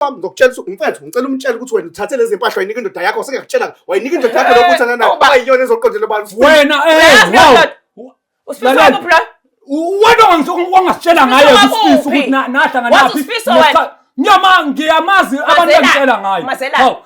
wami ngokutshela ukuthi mfethu ngicela umtshele ukuthi wena uthathe lezi mpahla wayinika indoda yakho sengakutshela wayinika indoda yakho lokhu uthana nayo Awuba- ayiyona ezoqondela abantu wena eh Uyazi wow lento? Usifisa Lalela. kuphi la? wena wangis- wangasitshela ngaye Usifisa kusifisa wakuphi? ukuthi na- nahlangana Wathi naphi usifisa Ngesikhathi- ngiyama ngiyamazi abantu Mazelani, angitshela ngayo mazelani. Hawu,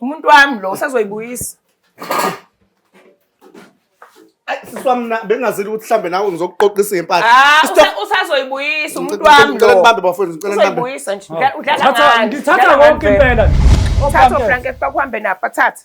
umuntu wami lo usazoyibuyisa siswamna bengazile ukuthi mhlambe nawe ngizokuqoqisa impahla ah, usazoyibuyisa umuntu wami ngicela ngibambe bafowethu ngicela ngibambe uyibuyisa nje udlala ngani ngithatha konke impela uthatha ufrank ekuba kuhambe napha thatha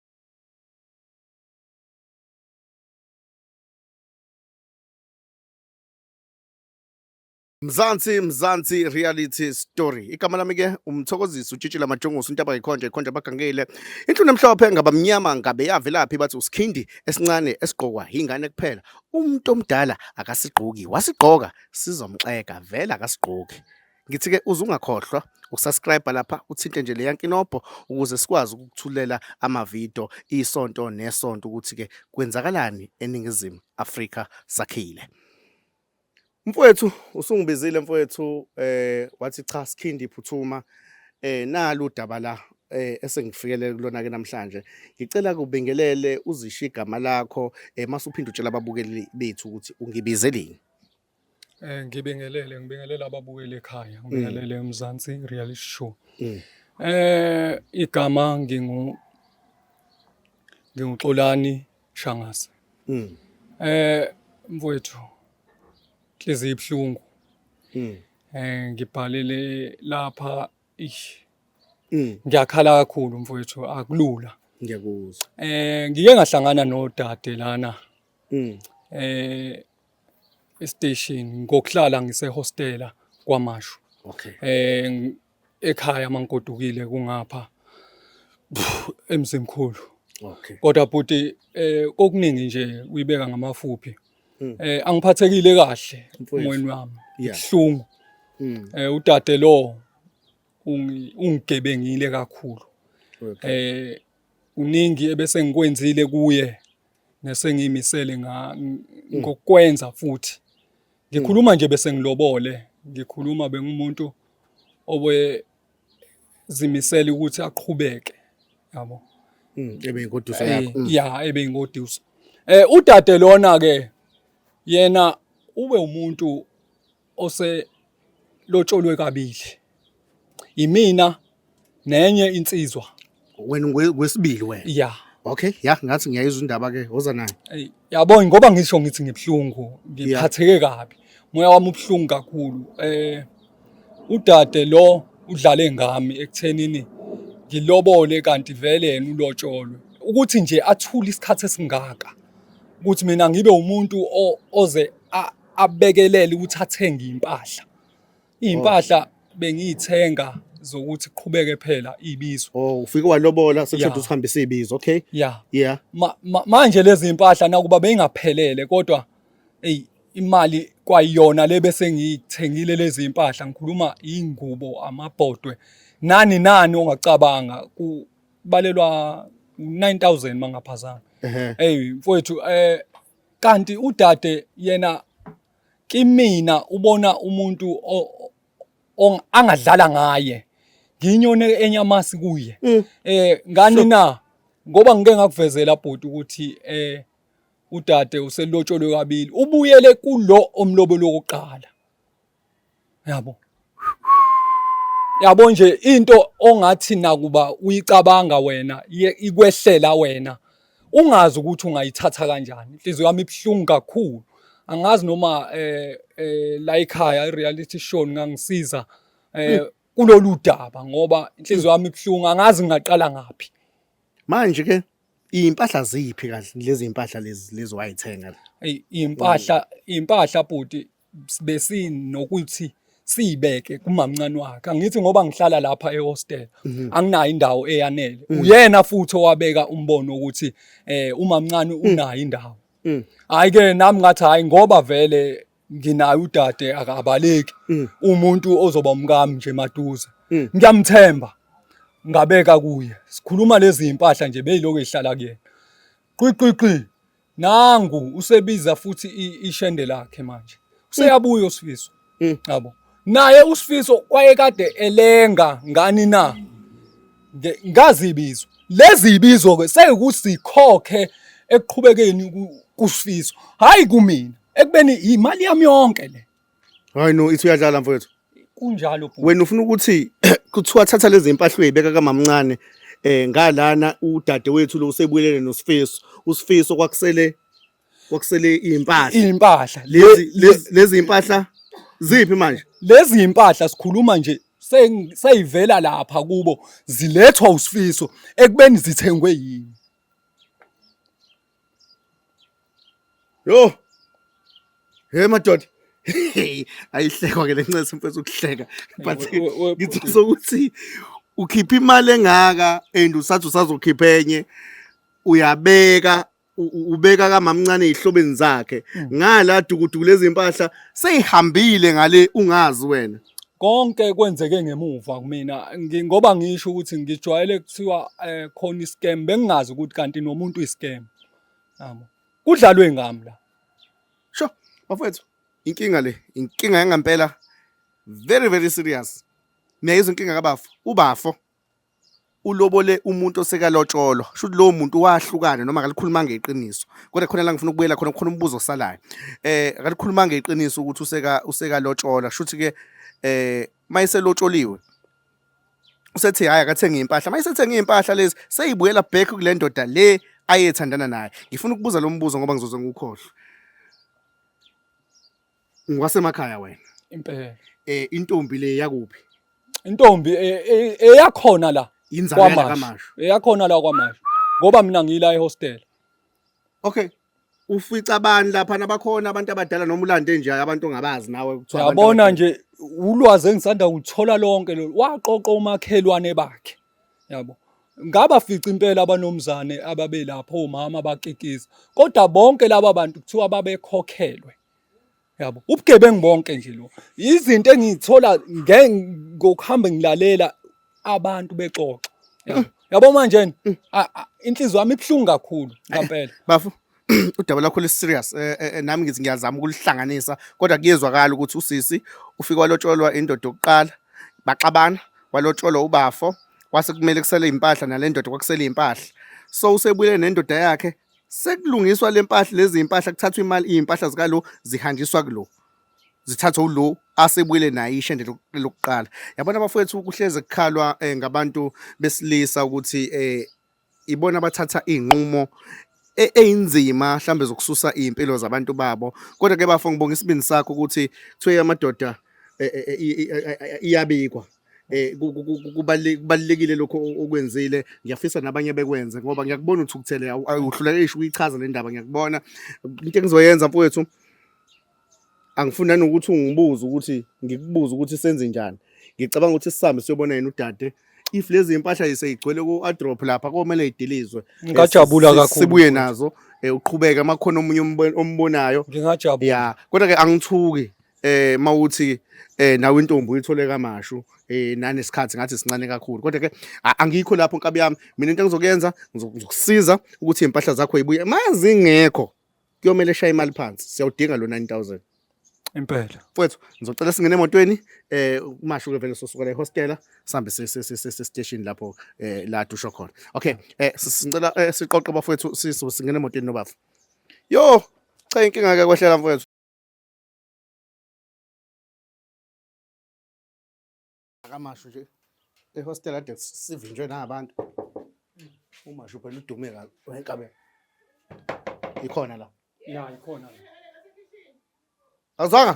Mzansi Mzansi reality story. Igama lami ke umthokozisi utshitshile amajongosi untaba ikhonja ikhonja bagangile. Inhlunu emhlophe ngabamnyama ngabe yavelaphi bathi usikhindi esincane esigqokwa ingane kuphela. Umuntu omdala akasigqoki wasigqoka sizomxeka vela akasigqoki. Ngithi-ke uze ungakhohlwa ukusubscribe lapha uthinte nje leya nkinobho ukuze sikwazi ukukuthulela amavidiyo isonto nesonto ukuthi-ke kwenzakalani eNingizimu Afrika sakhile. Mfowethu usungibizile mfowethu eh wathi cha sikhindi iphuthuma eh nalu udaba la eh esengifikelele kulona ke namhlanje ngicela kubingelele uzishiya igama lakho eh mase uphinda utshela ababukeli bethu ukuthi ungibizeleni Eh ngibingelele ngibingelele ababukeli ekhaya mm. ngibingelele eMzansi reality show. Mm. Eh igama ngingu nginguXolani Shangase. Mm. Eh mfowethu inhliziyo ibuhlungu. Mm. Eh ngibhalele lapha ish. Mm. Ngiyakhala kakhulu mfowethu akulula. Ngiyakuzwa. Eh ngike ngahlangana nodade lana. Mm. Eh estation ngokuhlala ngisehostela kwamashu okay eh ekhaya mangigodukile kungapha emzimkhulu okay kodwa bhuti eh kokuningi nje uyibeka ngamafuphi hmm. eh angiphathekile kahle umoyeni wami ihlungu hmm. eh udade lo ungigebengile kakhulu eh uningi ebese ngikwenzile kuye ngese ngimisele nga mm. ngokwenza futhi ngikhuluma nje bese ngilobole ngikhuluma bengumuntu obe zimisela ukuthi aqhubeke yabo mm, ebe ingoduso eh, yakho mm. ya ebe ingoduso eh udade lona ke yena ube umuntu oselotsholwe kabili yimina nenye insizwa wena ngwesibili wena ya okay ya ngathi ngiyayizwa indaba ke woza nayo yabona ngoba ngisho ngithi ngibuhlungu ngiphatheke kabi moya wami ubuhlungu kakhulu eh udade lo udlale ngami ekuthenini ngilobole kanti vele yena ulotsholwe ukuthi nje athule isikhathi esingaka ukuthi mina ngibe umuntu oze abekelele ukuthi athenge impahla impahla bengiyithenga zokuthi qhubeke phela ibizo oh ufike walobola sekuthi yeah. usihambisa ibizo okay yeah yeah Ma, ma, manje lezi impahla nakuba beyingaphelele kodwa hey imali kwayona le bese ngiyithengile lezi impahla ngikhuluma ingubo amabhodwe nani nani ongacabanga kubalelwa 9000 mangaphazana hey mfowethu eh kanti udade yena kimina ubona umuntu angadlala ngaye nginyone enyamasi kuye mm. eh ngani na ngoba ngike ngakuvezela bhuti ukuthi eh udade uselotsholwe kabili ubuyele kulo omlobelo wokuqala yabo yabo nje into ongathi nakuba uyicabanga wena ikwehlela wena ungazi ukuthi ungayithatha kanjani inhliziyo yami ibuhlungu kakhulu angazi noma eh, eh la ekhaya i-reality show ngangisiza eh hmm. kulolu daba ngoba inhliziyo yami ibuhlungu angazi ngingaqala ngaphi manje ke impahla ziphi kahle lezi impahla lezi lezi wayithenga impahla impahla bhuti besinokuthi siyibeke kumamncane wakhe angithi ngoba ngihlala lapha ehostel mhm. anginayo indawo eyanele mhm. uyena futhi owabeka umbono ukuthi eh umamncane mhm. unayo indawo hayi ke nami ngathi hayi ngoba vele nginayo udade akabaleki umuntu ozoba umkami nje maduze ngiyamthemba ngabeka kuye sikhuluma lezi impahla nje beyiloko ehlala kuyena qiqiqi nangu usebiza futhi ishende lakhe manje useyabuya mm. usifiso mm. yabo naye usifiso wayekade elenga ngani na ngazibizo lezi ibizo ke seyikuthi sikhokhe ekuqhubekeni kusifiso hayi kumina ekubeni imali yami yonke le Hayi no ithi uyadlala mfowethu. Kunjalo bhuti. Wena ufuna ukuthi kuthiwa thatha lezi impahla uyibeka kamamncane eh ngalana udade wethu lo usebuyelele nosifiso. Usifiso kwakusele kwakusele impahla. Impahla Lezi lezi- lezi impahla ziphi manje? lezi impahla sikhuluma nje se- seyivela lapha kubo zilethwa usifiso ekubeni zithengwe yini. Yo. Hey madoda. Ayihlekwa ke lencese mfethu ukuhleka. But ngithola sokuthi ukhipha imali engaka and usathi usazokhipha enye uyabeka ubeka kamamncane ihlobeni zakhe mm. ngala dukuduku lezimpahla seyihambile ngale ungazi wena konke kwenzeke ngemuva kumina ngoba ngisho ukuthi ngijwayele kuthiwa eh, khona iscam bengingazi ukuthi kanti nomuntu iscam yabo kudlalwe ngami la sho bafethu inkinga le inkinga yangampela very very serious niyayizwa inkinga kabafo ubafo ulobole umuntu osekalotsholwa shuthi lowo muntu wahlukana noma akalikhulumanga iqiniso kodwa khona la ngifuna ukubuyela khona khona umbuzo osalayo eh akalikhulumanga iqiniso ukuthi useka usekalotshola shuthi ke eh mayiselotsholiwe usethi hayi akathenge impahla mayisethenge impahla lezi seyibuyela back kule ndoda le ayethandana naye ngifuna ukubuza lo mbuzo ngoba ngizoze ngukhohlwe Ngwasemakhaya wena. Impela. Eh intombi le yakuphi? Intombi e- e- eyakhona la Yinzalo yala kwamasho. kamasho. Eyakhona la kwamasho. Ngoba mina ngiyila ehostel. Okay. Ufica bani lapha nabakhona abantu abadala noma ulande nje abantu ongabazi nawe kuthiwa abantu Yabona abadala. nje ulwazi engisanda kulithola lonke lolu. Waqoqa omakhelwane bakhe. Yabo. Ngaba fica impela abanomzane ababelapho omama bakikiza. Kodwa bonke laba bantu kuthiwa babekhokhelwe. yabo ubugebengu bonke nje lo izinto engizithola ngokuhamba ngilalela abantu bexoxa mm. yabo manje mm. inhliziyo yami ibuhlungu kakhulu ngampela bafu udaba lakho liserious eh, eh, eh, nami ngithi ngiyazama ukulihlanganisa kodwa kuyezwakala ukuthi usisi ufike walotsholwa indoda yokuqala baxabana walotsholwa ubafo kwase kumele kusele impahla nalendoda kwakusele impahla so usebuyele nendoda yakhe sekulungiswa lempahla lezi impahla kuthathwa imali izimpahla zika lo zihanjiswa kulo zithathwe ulo asebuyele naye ishende lokuqala yabona abafowethu kuhleze kukhalwa eh, ngabantu besilisa ukuthi eh, ibona abathatha izinqumo e-, eyinzima mhlambe zokususa izimpilo zabantu babo kodwa ke bafo ngibonga isibindi sakho ukuthi kuthiwe amadoda eh, iyabikwa eh kubalekile lokho okwenzile ngiyafisa nabanye bekwenze ngoba ngiyakubona uthukuthele awuhluleke isho uyichaza le ndaba ngiyakubona into engizoyenza mfowethu angifuna nokuthi ungibuze ukuthi ngikubuze ukuthi senze njani ngicabanga ukuthi sisambe siyobona yena udade if lezi impahla yiseyigcwele ku-adrop lapha komele idilizwe ngajabula kakhulu sibuye nazo eh, uqhubeke amakhona omunye ombonayo ngingajabula ya kodwa ke angithuki eh mawuthi eh nawe intombi uyithole kamashu eh nane sikhathi ngathi sincane kakhulu kodwa ke angikho lapho nkabi yami mina into engizokuyenza ngizokusiza ukuthi impahla zakho ibuye mazingekho kuyomele shaye imali phansi siyawudinga lo 9000 impela mfowethu ngizocela singene emotweni eh umasho ke vele sosuka la ehostela sihambe sestation lapho eh la dusho khona okay eh sicela eh, siqoqe bafowethu singene emotweni nobafu yo cha inkinga ke kwehlela mfowethu akamashu nje ehostel ade sivinjwe nabantu umashu phela udume kabi wenkabe ikhona la ya ikhona la azwanga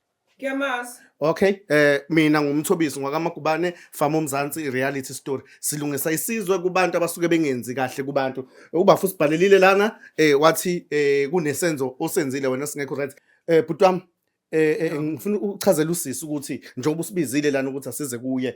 Ngiyamazi. Okay, eh mina ngumthobisi ngwakaMagubane Farm uMzansi reality story. Silungisa isizwe kubantu abasuke bengenzi kahle kubantu. Ukuba futhi sibhalelile lana eh wathi eh kunesenzo osenzile wena singekho right. Eh bhuti wami eh, eh ngifuna ukuchazela usisi ukuthi njengoba usibizile lana ukuthi asize kuye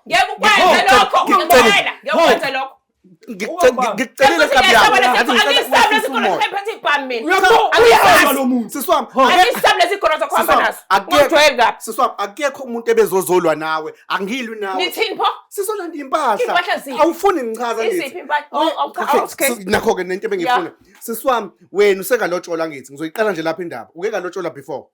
Ngeke ukwenze lokho, ngiyakutshela. Ngeke ukwenze lokho. ngikucelile kabi yakho ngathi ngisabe esikhona ngiphethe ibhamu mina uyahamba lo muntu sisi wami angisabe lesikhona sakho hamba naso ungijwayeli kabi sisi wami akekho umuntu ebezozolwa nawe angilwi nawe nithini pho sizolanda impahla awufuni ngichaza ngithi nakho-ke nento ebengifuna sisi wami wena usengalotshola ngithi ngizoyiqala nje lapha indaba uke kalotshola before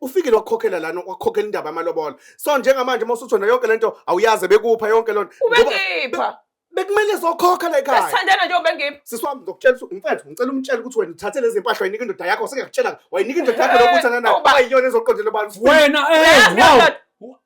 ufikile wakhokhela lana wakhokhela indaba yamalobolo so njengamanje uma usujona yonke le nto awuyazi bekupha yonke loo nto ubengipha bekumele zokhokha la ekhaya sithandana njengoba engiphi sisi wami ngizokutshela ukuthi mfethu ngicela umtshele ukuthi wena uthathe lezi mpahla wayinika indoda yakho sengiyakutshela wayinika indoda yakho lokuthi anana wayiyona ezoqondela abantu wena eh wow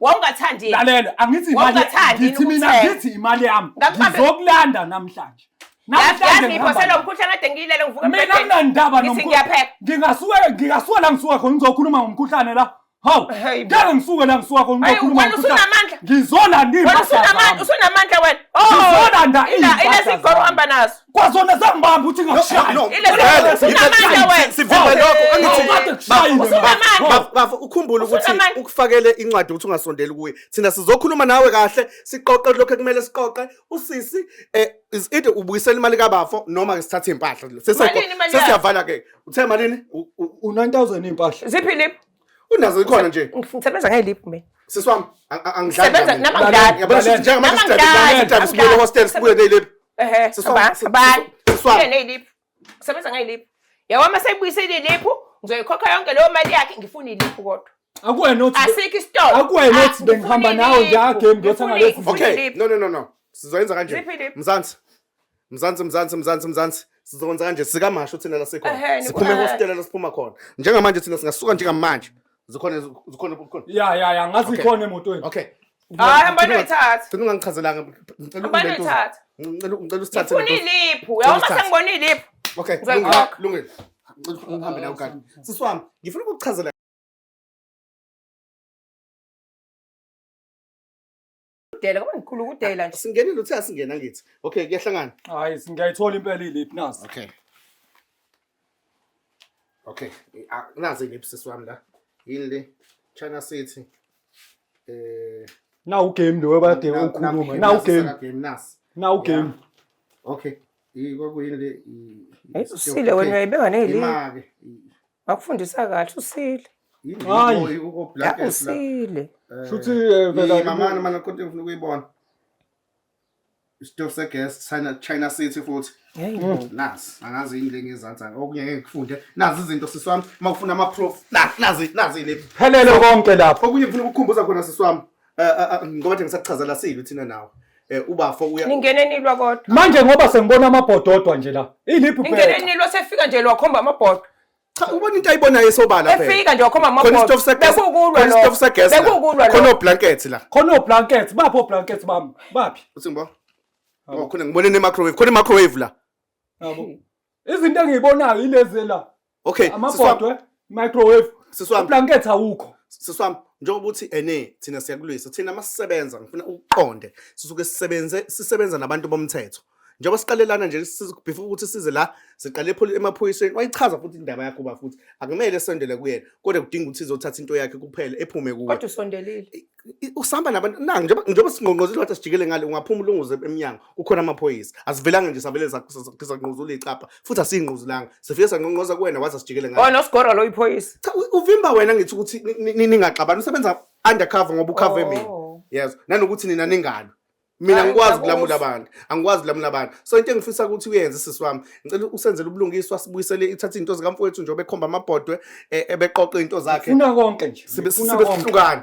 wawungathandi lalela angithi imali ngithi mina ngithi imali yami ngizokulanda namhlanje ngingasuke la ngisuka khona ngizokhuluma ngomkhuhlane la hawu ngeke ngisuke la ngisuka khona ngizokhuluma ngomkhuhlane ngizolanda iusunamandla wena oh, ngizolanda inesigoro hamba nazo kwazona zangibamba ukuthi ngakushaya No, no, Ile- no, Vele, Usuka ngiphe- amandla wena. sivimbe lokho angithi Awukade kushayile Bafo, Usuka bafo, amandla. bafo, bafo, ukhumbule Usuka ukuthi amandla. ukufakele incwadi ukuthi ungasondeli kuye thina sizokhuluma nawe kahle siqoqe lokho ekumele siqoqe usisi eh, is either ubuyisela imali kabafo noma-ke sithathe iy'mpahla Malini imali yakhe? sesiyavala-ke uthe malini U- u- u-9000 iy'mpahla ziphi lip unazo ikhona nje ngisebenza ngelip mina sisi wami angisebenza namangani yabona sisi njengamanje sidabukile sidabukile sibuye hostel sibuye nelip ehe sisi wami sisi wami nelip ngisebenza ngelip yawa uma seyibuyisile ilip ngizoyikhokha yonke leyo mali yakhe ngifuna ilip kodwa akuwena othi asikho isitolo akuwena othi bengihamba nawe nje agame ngiyothenga lezi okay no no no no sizoyenza kanje mzansi Mzansi mzansi mzansi mzansi sizokwenza kanje sikamasho thina la sikhona Ehhe, siphuma nikhona. ehostela la siphuma khona njengamanje thina singasuka njengamanje zikhona zikhona zikhona ya ya ya ngazi Okay. ikhona emotweni okay Hayi, hamba noyithatha. Ngicela ungangichazelanga ngicela Hamba ungibeke uze- noyithatha. ngicela ngicela usithathe Ngifuna lento. iliphu. Uyabona Ngicela usithathe. sengibona iliphu. okay Ngicela lungile ukhokhe. lungile Ngicela uhambe nayo kade sisi wami ngifuna ukukuchazela Kudela kube ngikhulu kudela nje. Singenile uthe asingena ngithi. Okay, kuyahlangana. Hayi, ngiyayithola impela iliphi nazi. Okay. Okay, nazi iliphi sisi wami la. Yini le? China City. Eh, na ugame lo webade ukhuluma. Na ugame. Game nasi. Na ugame. Okay. Ikokuyini le? Ayisile wena uyayibeka neli. Imake. Bakufundisa kahle usile. Hayi. Hayi uko Ya black as la. usile. Shuthi eh, vela Mamani mana konke ngifuna ukuyibona. Isitofu segas China China City futhi. Hey. Nazi angazi yini lengezansi okunye ngeke ngifunde. Nazi izinto siswami mawufuna ama proof. Nazi nazi nazi le. phelele konke lapho. Okunye ngifuna ukukhumbuza khona siswami. Eh, eh, eh, ngoba nje ngisakuchazela silo thina nawe Eh, ubafo uya ningene nilwa kodwa manje ngoba sengibona amabhodo odwa nje la iliphi ningene phela nilwa sefika nje lwakhomba amabhodo cha ubona into ayibonayo esobala phela efika nje wakhomba khona amabhodo isitofu segesi bekukulwa khona isitofu segesi la. bekukulwa khona oblanket la khona oblanket baphi oblanket bami baphi uthi ngibo Yabo. oh khona ngibone ne microwave khona i microwave la yabo Izinto engiyibonayo ilezi la. Okay, amabhodwe, microwave, siswami. Blanket awukho. Siswami, njengoba ukuthi ene thina siyakulwisa. Thina masisebenza ngifuna ukuqonde. Sisuke sisebenze sisebenza nabantu bomthetho. Njengoba siqalelana nje before ukuthi size la siqale emaphoyiseni wayichaza futhi indaba yakho ba futhi akumele esondele kuyena kodwa kudinga ukuthi izothatha into yakhe kuphela ephume kuwe. Kodwa usondelile. Usihamba nabantu na njengoba njengoba singqongqozile wathi sijikele ngale ungaphuma ulunguze emnyango. kukhona amaphoyisa asivelanga nje savele sanquzula icapha futhi asiyinquzulanga sifike sanqonqoza kuwena waze asijikele ngayo wena usigora lo iphoyisa cha uvimba wena ngithi ukuthi ningaxabani usebenza undercover ngoba ukhave mina oh. yes nanokuthi nina ningalo mina angikwazi ukulamula abantu angikwazi ukulamula abantu so into engifisa ukuthi uyenze sisi wami ngicela usenzele ubulungiswa sibuyisele ithathe into zikamfowethu nje obekhomba amabhodwe e, ebeqoqa into zakhe funa konke nje sibe sihlukana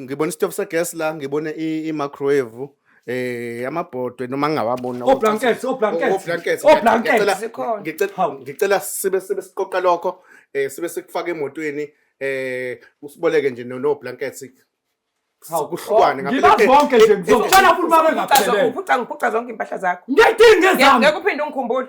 ngibona isitofu segas la ngibone i-microwave eh amabhodwe noma ngingawabona o blankets o blankets o blankets ngicela ngicela sibe sibe siqoqa lokho eh sibe sikufaka emotweni eh usiboleke nje no blankets kuhlukane oh, ngibona zonke nje ngizocela futhi babe ngaphelele ngiphuca ngiphuca zonke impahla zakho ngiyidinga ezami ngeke uphinde ungikhumbulo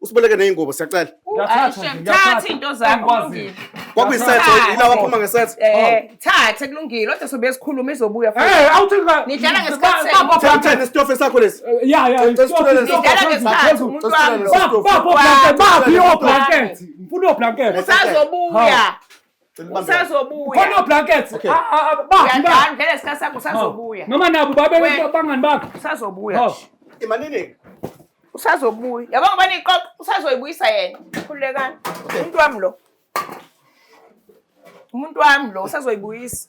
usiboleke ney'ngubo siyacela thatha into zakwakulungile kwakuyisetho yilawa aphuma ngesetho eh, thathe kulungile kodwa sobe sikhuluma izobuya eh, nidlala ngesikhathi isitofe sakho lesi eh, ya ya nidlala ngesikhathi umuntu wami baphi oblanket ngifuna oblanket usazobuya usazobuyakhona blankets ah, ah, ah, ngele sikhathi sakho usazobuya noma nabo babangani bakho usazobuya imaniningi usazobuya yabo ngoba niqoqa usazoyibuyisa yena khululekani umuntu wami lo umuntu wami lo usazoyibuyisa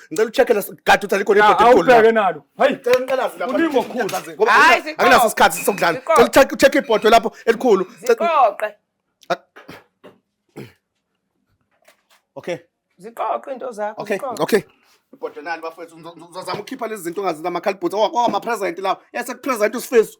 Ngicela ucheck la gadi uthi alikho ibhodi elikhulu. la. Awubheke nalo. Hayi. Cela ngiqalaze lapha. Kuningi okukhulu. Ngoba Hayi, angina- ziqoqe. anginaso isikhathi sokudlala. Ziqoqe. Cela ucheck ucheck ibhodi lapho elikhulu. Cela- ziqoqe Okay. ziqoqe into zakho Okay. ziqoqe. Okay. Ibhodonani bafethu ngizozama ukukhipha lezi zinto ongazi namakhalibhuthi okwamapresent lawo. Yase kupresent usifiso.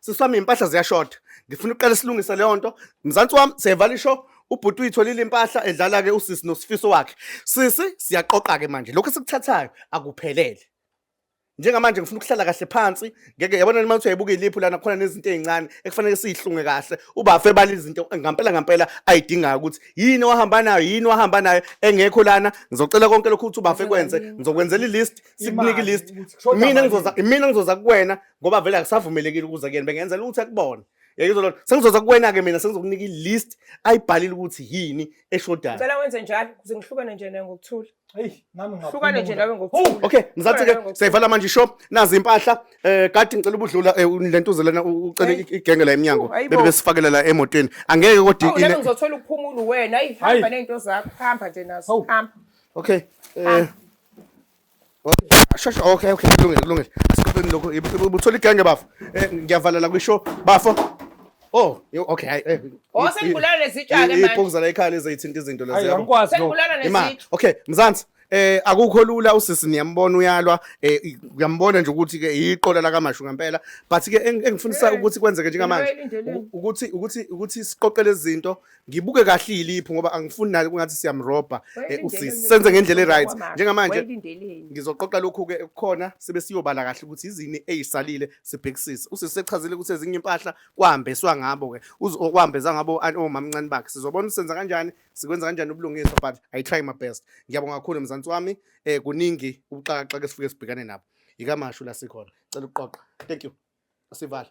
sisi wami iy'mpahla ziyashoda ngifuna uqale silungise leyo nto mzansi wami siyayivala isho ubhuti uyitholile impahla edlala-ke usisi nosifiso wakhe sisi siyaqoqa-ke manje lokhu esikuthathayo akuphelele njengamanje ngifuna ukuhlala kahle phansi ngeke yabona nima ukuthi uyayibuka iliphu lana khona nezinto ezincane ekufanele siyihlunge kahle ubafe bala izinto ngampela ngampela ayidingayo ukuthi yini wahamba nayo yini wahamba nayo engekho lana ngizocela konke lokho ukuthi ubafe kwenze ngizokwenzela ilist sikunike ilist mina ngizoza mina ngizoza kuwena ngoba vele akusavumelekile ukuza kuyena bengenzela ukuthi akubone yayizolona sengizoza kuwena ke mina sengizokunika ilist ayibhalile ukuthi yini eshodayo ngicela wenze njalo kuze ngihlukane nje naye ngokuthula hey nami ngapha hlukane nje nawe ngokuthula okay ngizathi ke seyivala manje shop nazi impahla eh kade ngicela ubudlula eh, lento uzelana ucela igenge la eminyango bebe besifakela la emotweni angeke kodwa oh, ine ngizothola ukuphumula wena ayihamba nezinto zakho hamba nje nazo hamba okay eh Shasha okay okay kulungile kulungile. Asiqopheni lokho ubuthola igenge bafo. Eh ngiyavalela kwisho bafo. Oh, okay. Hayi. Eh, oh, sengibulala lesitshaka manje. Iphokuzana ekhaya lezayithinta izinto lezi yabo. Angikwazi. Sengibulala nesitshaka. Okay, mzansi. eh akukho lula usisi niyambona uyalwa eh uyambona nje ukuthi ke iqola la kamashu ngempela but ke engifundisa eh, ukuthi kwenzeke njengamanje ukuthi ukuthi ukuthi siqoqele izinto ngibuke kahle iliphu ngoba angifuni nayo kungathi siyamrobha eh, usisi senze ngendlela eright njengamanje ngizoqoqa lokhu ke kukhona sibe siyobala kahle ukuthi izini ezisalile sibhekisise usisi sechazile ukuthi ezinye impahla kwahambeswa ngabo ke uzokwahambeza ngabo omamncane bakhe sizobona usenza kanjani sikwenza kanjani ubulungiswa but i try my best ngiyabonga kakhulu mzansi wami eh kuningi ubuxakaxaka esifike sibhekane nabo yikamashu la sikhona cela ukuqoqa thank you sivala